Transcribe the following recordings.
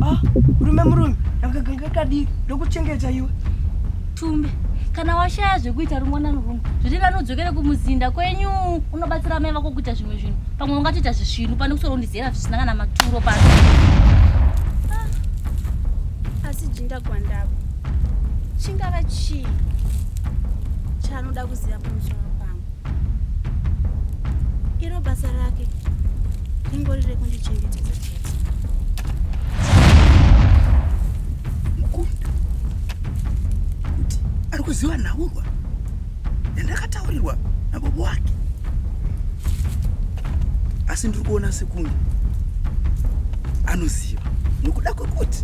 Ah, rume murume ndakaganga kadii ndokuchengeta iwe tumbe kana washaya zvekuita rimwana norume zviri vani udzokere kumuzinda kwenyu unobatsira mai vako kuita zvimwe zvinhu pamwe ungatoita zvisvinu pane kusoro undizera zvisina kana maturo pano ah, asi jinda gwandavo chingava chii chaanoda kuziva pamusoro iro basa rake ringori rekundichengetedza chete mukundi kuti ari kuziva nhaurwa yandakataurirwa nababa wake asi ndiri kuona sekunge anoziva nokuda kwekuti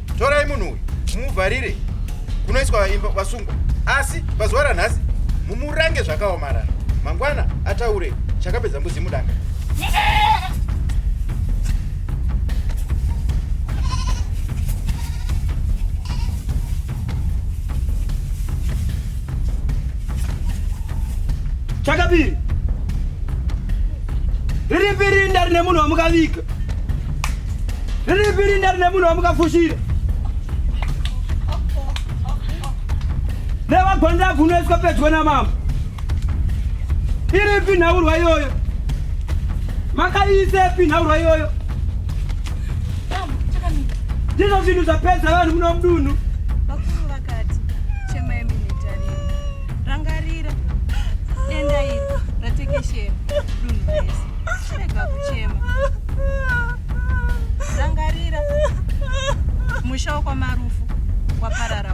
torai munhu uyu mumuvharire kunoiswa imba vasungwa asi pazuva ranhasi mumurange zvakaomarara mangwana ataure chakapedza mbuzi mudanga chakabiri riripi rinda rine munhu wamukaviga Riripiri ndari nemunhu wamukafushira. Nevagonda bvunoiswa pedyo namambo. Iripi nhaurwa iyoyo? Makaiisepi nhaurwa iyoyo? Ndizvo zvinhu zvapedza vanhu muno mudunhu. Vakuru vakati chemai minitariro. Rangarira denda iri ratekeshera dunhu rese. rega kuchema rangarira musha wakwamarufu waparara